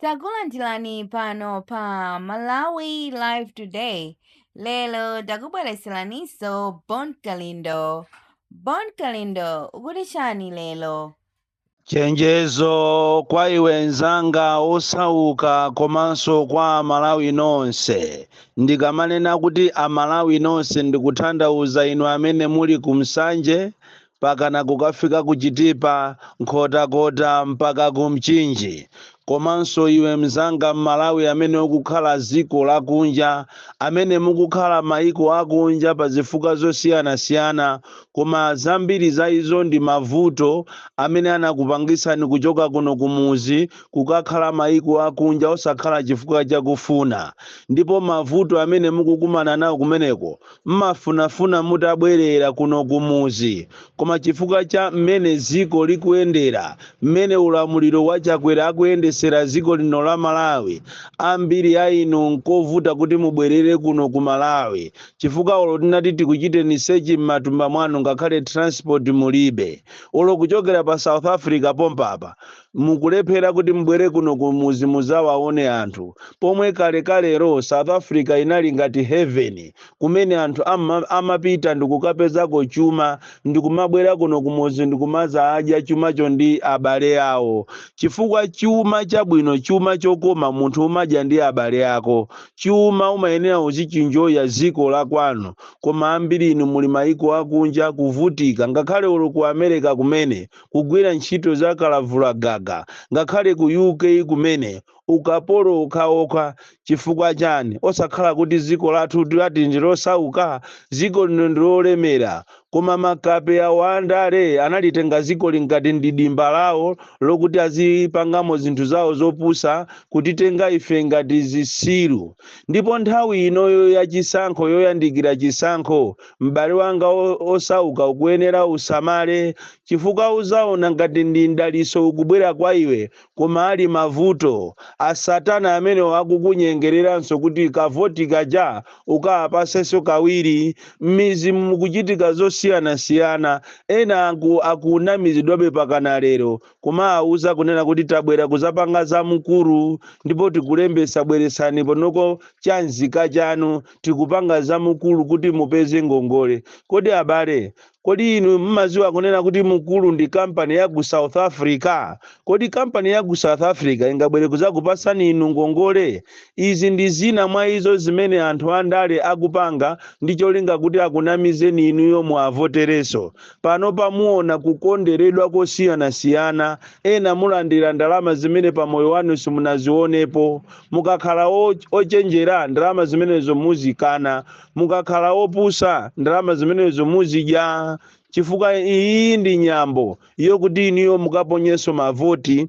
takulandirani pano pa malawi live today lero takubweretseraninso bon kalindo bon kalindo ukuti chani lero chenjezo kwa iwe nzanga osauka komanso kwa amalawi nonse ndikamanena kuti amalawi nonse ndikutanthauza inu amene muli ku nsanje pakana kukafika ku Chitipa, Nkhotakota mpaka ku Mchinji. Komanso iwe mzanga Mmalawi amene ukukhala ziko lakunja, amene mukukhala maiko akunja pazifukwa zosiyanasiyana koma zambiri za izo ndi mavuto amene anakupangitsani kuchoka kuno kumuzi kukakhala maiko akunja osakhala chifukwa chakufuna ndipo mavuto amene mukukumana nawo kumeneko mmafunafuna mutabwerera kuno kumuzi koma chifukwa cha mmene ziko likuyendera mmene ulamuliro wa chakwera akuyendesera ziko lino la malawi ambiri a inu nkovuta kuti mubwerere kuno ku malawi chifukwa olo tinati tikuchiteni sechi mmatumba mwanu ngakhale transport mulibe olo kuchokera pa south africa pompapa mukulephera kuti mubwere kuno kumuzi muzawaone anthu pomwe kalekalero south africa inali ngati heaven kumene anthu amapita ndikukapezako chuma ndikumabwera kuno kumuzi ndikumazadya chumacho ndi abale awo chifukwa chuma chabwino chuma chokoma munthu umadya ndi abale ako chuma umayenera uzichinjoya ziko la kwanu koma ambiri inu muli maiko akunja kuvutika ngakhale olo ku america kumene kugwira ntchito za kalavulagaga ngakhale ku UK kumene ukapolo okhaokha chifukwa chani osakhala kuti ziko lathu kuti ndi losauka ziko lino ndi lolemera koma makape awo andale analitenga ziko lino ngati ndi dimba lawo lokuti azipangamo zinthu zawo zopusa kutitenga ife ngati zisiru ndipo nthawi inoyo ya chisankho yoyandikira chisankho M'bale wanga osauka, ukuyenera usamale, chifukwa uzaona ngati ndi mdaliso ukubwera kwa iwe, koma ali mavuto. A Satana amenewo akukunyengereranso kuti kavoti kaja ukawapasenso kawiri. M'mizimu mukuchitika zosiyanasiyana, ena aku, akunamizidwabe pakana lero kumawauza kunena kuti tabwera kuzapanga za mukuru ndipo tikulembesa bweretsani ponoko cha nzika chanu tikupanga za mukuru kuti mupeze ngongole kodi abale kodi inu mmaziwa kunena kuti mukuru ndi kampani ya ku south africa kodi kampani ya ku south africa ingabwere kuzakupasani inu ngongole izi ndi zina mwa izo zimene anthu andale akupanga ndi cholinga kuti akunamizeni inuyo muwavoterenso pano pamuona kukonderedwa kosiyanasiyana ena mulandira ndalama zimene pa moyo wanu simunazionepo mukakhala o- ochenjera ndalama zimenezo muzikana mukakhala opusa ndalama zimenezo muzidya chifukwa iyi ndi nyambo yokuti iniyo mukaponyenso mavoti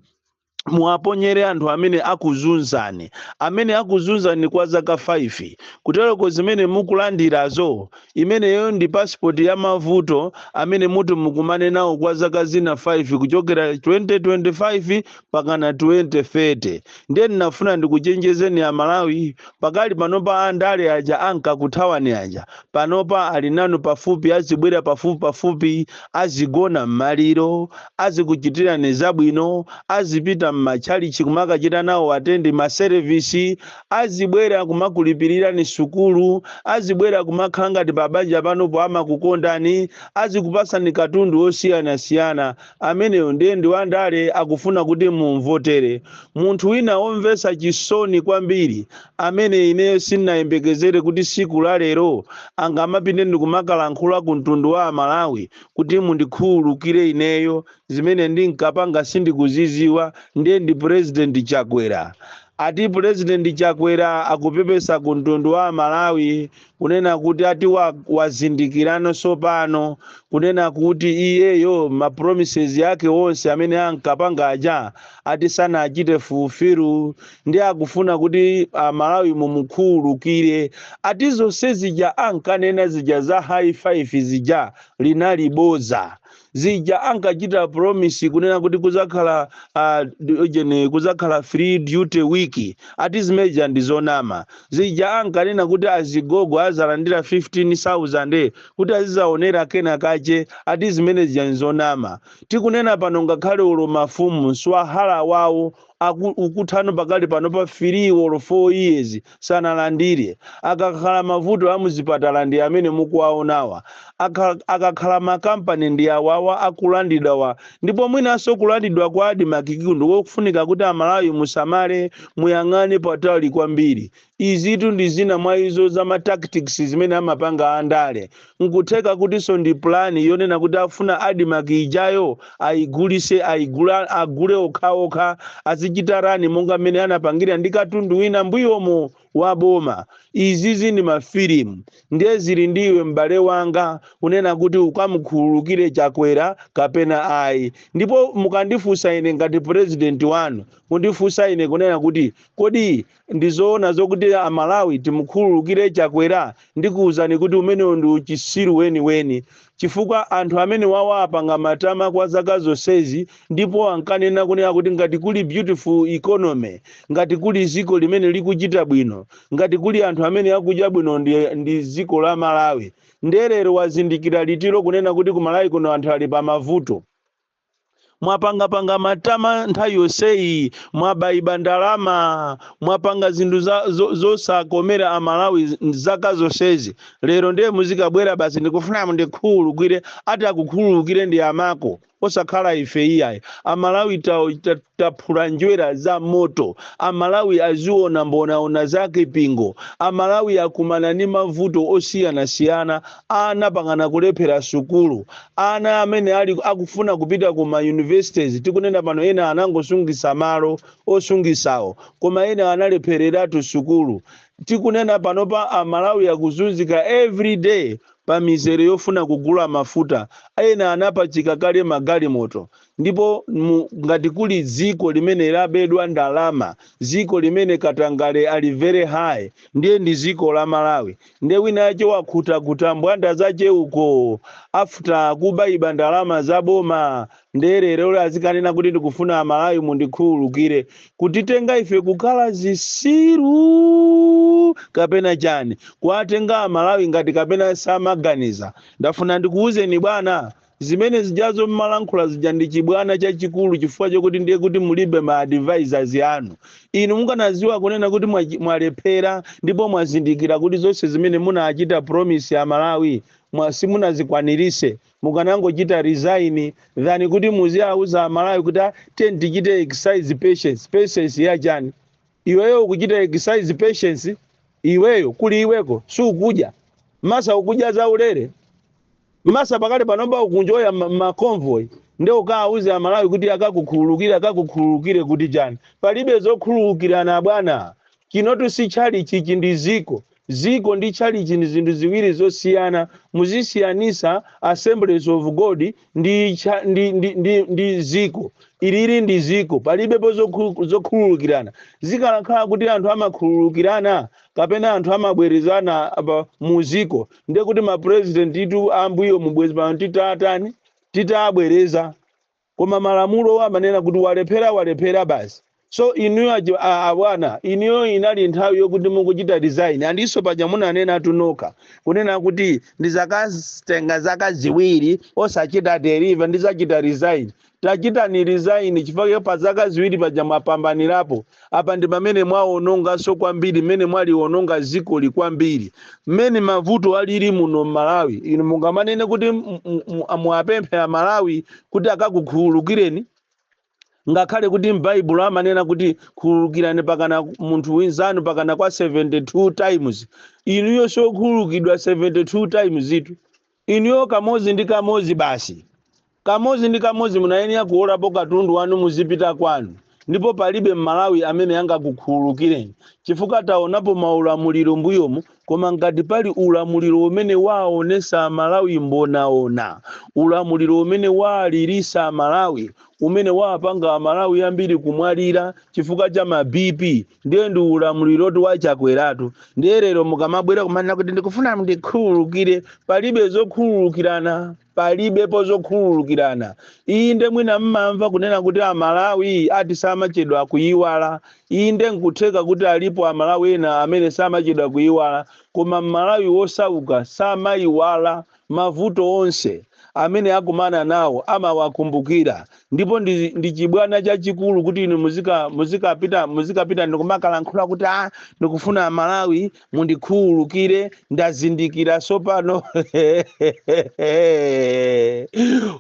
muwaponyere anthu amene akuzunzani amene akuzunzani kwa zaka 5 kutereko zimene mukulandirazo imeneyo ndi pasipoti ya mavuto amene muti mukumane nawo kwa zaka zina 5 kuchokera 2025 mpakana 2030 ndiye ndinafuna ndikuchenjezeni amalawi pakali panopa andale aja ankakuthawani aja panopa ali nanu pafupi azibwera pafupi pafupi azigona m'maliro azikuchitirani zabwino azipita m'matchalichi kumakachita nawo atendi maserevisi azibwera kumakulipirirani sukulu azibwera kumakhala ngati pabanja panopo amakukondani azikupasani katundu osiyanasiyana Ameneyo ndiye ndi wandale akufuna kuti mumvotere. Munthu wina womvetsa chisoni kwambiri amene ineyo sindinayembekezere kuti tsiku la lero angamapite ndi kumakalankhula ku mtundu wa Amalawi kuti mundikhululukire ineyo zimene ndinkapanga sindikuzidziwa ndiye ndi Pulezidenti Chakwera. Ati Pulezidenti Chakwera akupepesa ku mtundu wa Amalawi kunena kuti ati wa- wazindikirano tsopano kunena kuti iyeyo mapromises ake onse amene ankapanga aja ati sanachite fulfill ndi akufuna kuti amalawi mumukhululukire ati zonse zija ankanena zija za high five zija linali bodza zija ankachita promise kunena kuti kuzakhala uh, ujeni kuzakhala free duty week ati zimeja ndi zonama zija ankanena kuti azigogo azalandira 15000 kuti azizaonera kena kache ati zimene zija n'zonama tikunena pano ngakhale olo mafumu mswahala wawo aku- ukuthano pakali pano pa 3 or 4 years sanalandire akakhala mavuto a muzipatala ndi amene mukuwaonawa Akha- akakhala makampani ndi awawa akulandidwawa ndipo mwinanso kulandidwa kwa Admarc-ku ndi kofunika kuti amalawi musamale muyang'ane patali kwambiri Izitu ndi zina mwa izo za ma tactics zimene amapanga a ndale. Nkutheka kutinso ndi plan yonena kuti akufuna Admarc ijayo ayigulise, ayigule okhaokha, azichita run monga mmene anapangira ndi katundu wina mbuyomo wa boma. Izizi ndi ma film. Ndiye zili ndi iwe m'bale wanga kunena kuti ukamukhululukire Chakwera kapena ayi. Ndipo mukandifunsa ine ngati president wanu, kundifunsa ine kunena kuti kodi Ndizoona zokuti a Malawi timukhululukire Chakwera? Ndikuuzani kuti umenewo ndi uchisiru weni weni chifukwa anthu amenewawa apanga matama kwa zaka zonsezi ndipo ankanena kunena kuti ngati kuli beautiful economy, ngati kuli ziko limene likuchita bwino, ngati kuli anthu amene akudya bwino ndi, ndi ziko la Malawi. Nde lero wazindikira liti lo kunena kuti ku Malawi kuno anthu ali pa mavuto? mwapangapanga matama nthawi yonseyi mwabaiba ndalama mwapanga zinthu za- zo- zosakomera amalawi z- zaka zonsezi lero ndiye muzikabwera basi ndikufuna mundikhululukire ati akukhululukire ndi amako osakhala ife iyayi amalawi ta- ta- taphula njerwa za moto amalawi aziona mbonaona zakhwimbi ngo amalawi akumana ndi mavuto osiyanasiyana Ana angapa angana kulephera sukulu, ana amene ali akufuna kupita ku ma universities tikunena pano ena anangosungisa malo osungisawo koma ena analephereratu sukulu. Tikunena panopa a Malawi akuzunzika every day pa mizere yofuna kugula mafuta, ena anapachika kale magalimoto. ndipo mu, ngati kuli dziko limene labedwa ndalama dziko limene katangale ali very high ndiye ndi dziko la malawi ndiye winayake wakhutakhuta mbwanda zake uko after kubaiba ndalama za boma ndiye lerolo azikanena kuti ndikufuna amalawi mundikhululukire kutitenga ife kukhala zisiru kapena chani kuwatenga amalawi ngati kapena samaganiza ndafuna ndikuwuzeni bwana zimene zijazo mmalankhula zija ndi chibwana chachikulu chifukwa chokuti ndiye kuti mulibe ma advisors anu inu mukanaziwa kunena kuti mwachi- mwalephera ndipo mwazindikira kuti zonse zimene munachita promise amalawi mwa- simunazikwanirise mukanangochita resign than kuti muziauza amalawi kuti "Ah, ati tichite exercise patience patience yachani Iweyo ukuchita exercise patience iweyo kuli iweko ukudya masa ukudya zaulere masa pakali panopa ukunjoya ma, ma convoy nde ukawuze amalawi kuti akukhululukire akukhululukire kuti chani palibe zokhululukirana abwana chinotu si tchalitchi ichi ndi ziko Ziko ndi tchalitchi ndi zinthu ziwiri zosiyana. Muzisiyanisa Assemblies of God ndi, ndi, ndi, ndi, ndi ziko. Ilili ndi ziko. Palibepo zokhululukirana. Zikanakhala kuti anthu amakhululukirana kapena anthu amabwerezana mu ziko, ndiye kuti ma President tu ambuyomu bwezi pano titatani? Titaabwereza. Koma malamulowo amanena kuti walephera walephera basi. So inuyo a chi- a- abwana inuyo inali nthawi yokuti mukuchita resign andinso paja munanenatu nokha kunena kuti ndizakatenga zaka ziwiri osachita deliver ndizachita resign. Tachitani resign chifukwa pa zaka ziwiri paja mwapambanirapo. apa ndi pamene mwawononganso kwambiri mmene mwaliwononga dzikoli kwambiri mmene mavuto alili muno m'malawi inu mungamanene kuti m- m- m- muwapemphe amalawi kuti akakukhululukireni ngakhale kuti m'baibulo amanena kuti khululukirani pakana munthu winzanu pakana kwa 72 times inuyo siwokhululukidwa 72 timesitu Inuyo kamodzi ndi kamodzi basi. Kamodzi ndi kamodzi munayenera kuwolapo katundu wanu muzipita kwanu ndipo palibe m'Malawi amene angakukhululukireni chifukwa taonapo maulamuliro m'mbuyomu koma ngati pali ulamuliro umene waonetsa Amalawi mbonaona, ulamuliro umene waalilitsa Amalawi, umene waapanga Amalawi ambiri kumwalira chifukwa cha ma BP. ndiye ndi ulamulirotu wa chakweratu ndiye lero mukamabwera kumanena kuti ndikufuna mundikhululukire palibe zokhululukirana palibepo zokhululukirana inde mwina mmamva kunena kuti amalawi ati samachedwa kuyiwala inde nkutheka kuti alipo amalawi ena amene samachedwa kuyiwala koma mmalawi wosauka samayiwala Mavuto onse amene akumana nawo amawakumbukira, ndipo ndi, ndi chibwana chachikulu kuti inu muzika muzikapita muzikapita ndikumakalankhula kuti a ah, ndikufuna Amalawi mundikhululukire ndazindikira sopano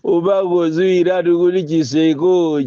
umakoziwiratu kuti chitseko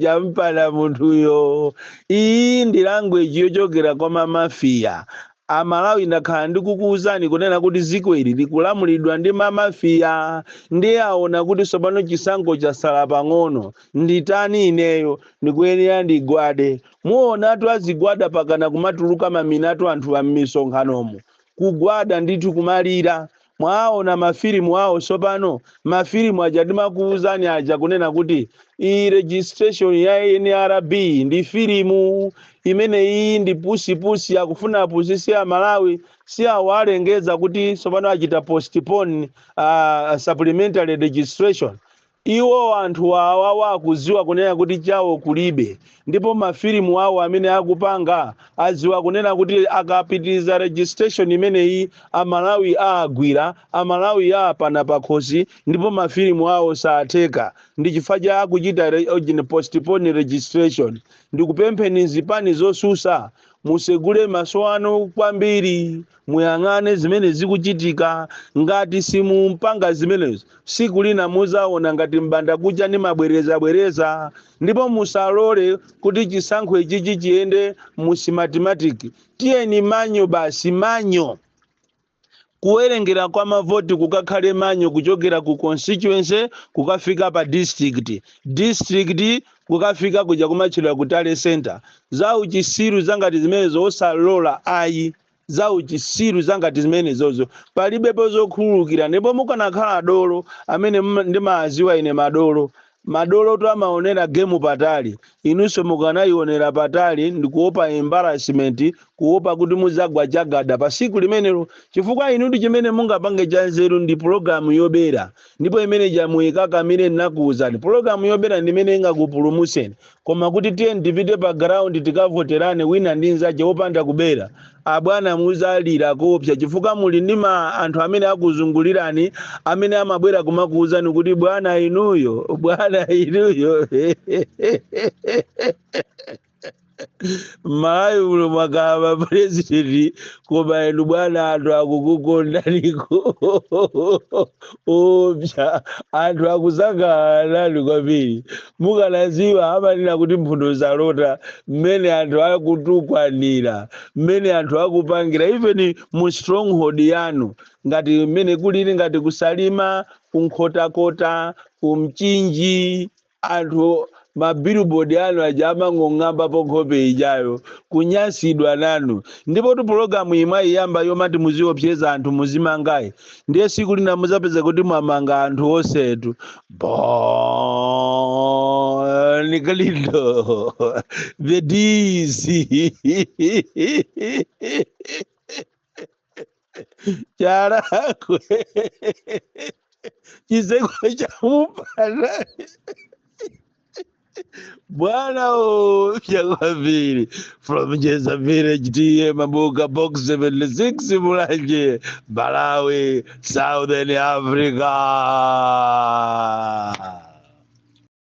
champana munthuyo. Iyi ndi language yochokera kwa mamafiya A Malawi ndakhala ndikukuuzani kunena kuti ziko ili likulamulidwa ndi ma mafia ndiye aona kuti sopano chisankho chasala pang'ono nditani ineyo ndikuyenera ndigwade muonatu azigwada pakana kumatuluka maminatu anthuwa mmisonkhanomo kugwada ndithu kumalira Mwaona mafilimu awo tsopano, mafilimu aja ndimakuwuzani aja kunena kuti iyi registration ya NRB ndi filimu imene iyi ndi pusipusi akufuna apusise a Malawi si awa alengeza kuti tsopano achita postpone uh, supplementary registration Iwo anthu awawa akuziwa kunena kuti chawo kulibe ndipo mafilimu awo amene akupanga aziwa kunena kuti akapitiliza registration imeneyi amalawi aagwira amalawi aapana pakhosi ndipo mafilimu awo saatheka ndichifukwa chake akuchita postpone registration ndikupempheni zipani zosusa musegule maso anu kwambiri muyang'ane zimene zikuchitika ngati simumpanga zimenezo siku lina muzaona ngati mbanda kucha ndi mabwereza bwereza ndipo musalole kuti chisankho ichichi chiyende mu Smartmatic tiyeni manual basi manual kuwerengera kwa mavoti kukakhale manual kuchokera ku constituency kukafika pa district district kukafika kuja kumatchedwa ku tally center za uchisiru zangati zimenezo osalola ayi za uchisiru zangati zimenezozo palibepo zokhululukira ndipo mukanakhala dolo amene ndimawaziwa ine madolo madolotu amaonera gemu patali inunso mukanayionera patali ndikuopa embarrassment kuopa kuti muzagwa chagada pa siku limenelo chifukwa inutu chimene mungapange cha nzeru ndi pologalamu yobera ndipo imene ija muikakamire ndinakuwuzani pologalamu yobera ndimene ingakupulumuseni Koma kuti tiyeni tipite pa ground tikavoterane wina ndi nzache wopanda kubera, abwana muzalira koopsa chifukwa muli ndi anthu amene akuzungulirani amene amabwera kumakuuzani kuti bwana inuyo, bwana inuyo. Malawi muno mwakhala ma president koma inu bwana anthu akukukondaniko. opsa anthu akusangalala nanu kwambiri mukanaziwa amanena kuti mphuno salota mmene anthu akutukwanira mmene anthu akupangira even mu stronghold yanu ngati mmene kulili ngati ku Salima ku Nkhotakota ku Mchinji anthu ma billboard anu aja amangong'ambapo nkhope ijayo kunyansidwa nanu ndipotu pulogalamu iyi mwayiyamba yomati muziopseza anthu muzimangayi ndiye siku lina muzapeza kuti mwamanga anthu onsetu Bon Kalindo the DC charakwe chizekwe chamupana bwana o chakwambiri from jeza village ta mabuka box 76 mulanje malawi southern africa